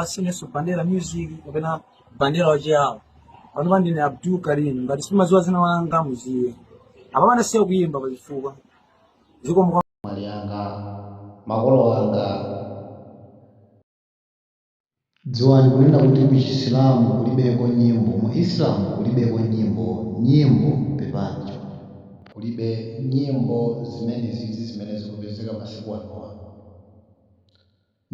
musanenenso bandera music kapena bandera wachiyawo panopa ndine abdul karim ngati simumaziwa zina langa muziwe apapa ndasiya kuyimba pazifukwa zikomo abale anga makolo anga dziwani kunena kuti mu chisilamu kulibeko nyimbo mu islam kulibeko nyimbo nyimbo pepani kulibe nyimbo zimene zizi zimene zikupezeka masiku anowa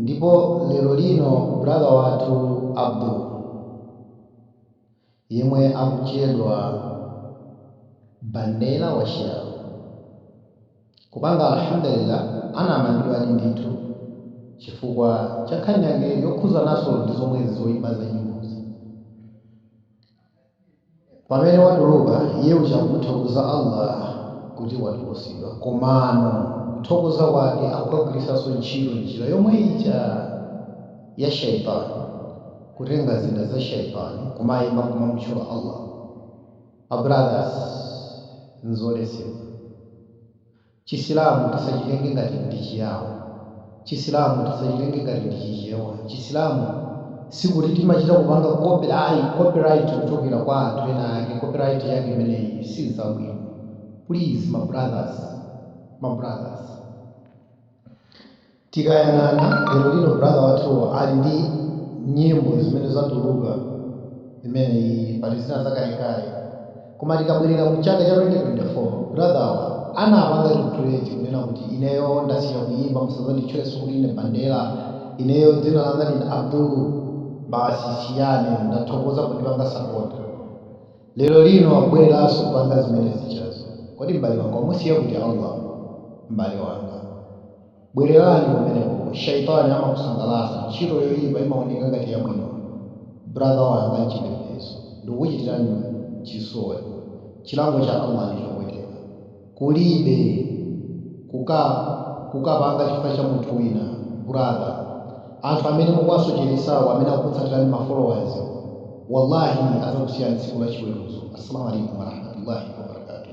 Ndipo lero lino brother wathu Abdul, yemwe akutchedwa Bandera wa Chiyao, kupanga Alhamdulillah anamangidwadi ndithu chifukwa cha nkhani yake yokhuzanaso ndi zomwezi zoipa za nyimbozi. Pamene watuluka, iye uja akumuthokoza Allah kuti watulutsidwa, komano kuthokoza kwake akukagwiritsanso ntchito njira yomwe ija ya shaytan, kutenga zida za shaytan kumaimba kumamutchula Allah. Ma brothers, nzoletsedwa. Chisilamu tisachitenge ngati ndi chiyao, Chisilamu tisachitenge ngati ndi chichewa, Chisilamu sikuti timachita kupanga copy ai, copyright kuchokera kwa anthu ena ake, copyright yake imeneyi siyabwino, please ma brothers, ma brothers. Tikayang'ana lero lino brother wathuwa ali ndi nyimbo zimene zatuluka imeneyi pali zina zakalekale koma tikabwerera mu chaka cha 2024 brother wathu anapanga regret kunena kuti ineyo ndasiya kuyimba musazanditchulenso kuti ndine Bandera ineyo dzina langa ndine Abdul basi siyani ndathokoza pondipanga support lero lino akubwereranso kupanga zomwe zijazo kodi m'bale wanga mwamusiya kuti Allah m'bale wanga. Bwererani kumeneko. Shaytaani amakusangalatsa, ntchito yoyipa imawoneka ngati yabwino. Brother wanga, mchipembedzo, ndikukuchitirani chisoni, chilango cha Allah ndi chopweteka. Kulibe kuka, kukapanga chifukwa cha munthu wina. Brother, anthu amene mukuwasocheretsawo, amene akukutsatirani ma followers wo, Wallahi adzakusiyani tsiku la chiweruzo. As-Salamu Alaykum warahmatullahi wabarakatuh.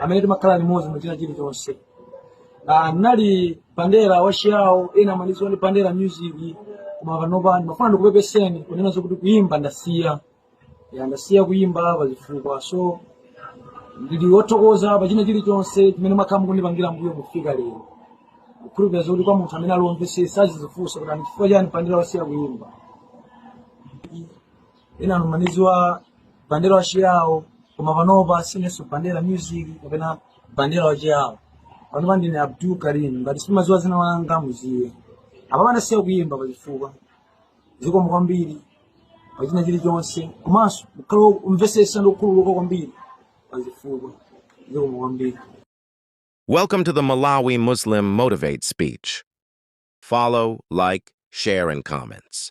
amene timakhala limodzi muchina chilichonse Ah, nali bandera wachiyawo ena amandidziwa ndi bandera music koma panopa ndimafuna ndikupepeseni kunena zokuti kuyimba ndasiya ya ndasiya kuyimba pa zifukwa so ndili wothokoza pa china chilichonse chimene mwakhala mu kundipangira mbuyo kufika lero kukhulupirira zokuti kwa munthu amene ali womvesesa azizifunsa kuti ndi chifukwa chani bandera wasiya kuyimba ena amandidziwa bandera wa chiyawo koma panopa sinenso bandera music kapena bandera wa chiyawo panopa ndine abdul karim ngati simadziwa dzina langa mudziwe apapa ndasiya kuyimba pachifukwa zikomo kwambiri pachina chilichonse komanso ukhale omvetsetsa ndi okhululuka kwambiri pachifukwa zikomo kwambiri Welcome to the Malawi Muslim Motivate speech. Follow, like, share, and comments.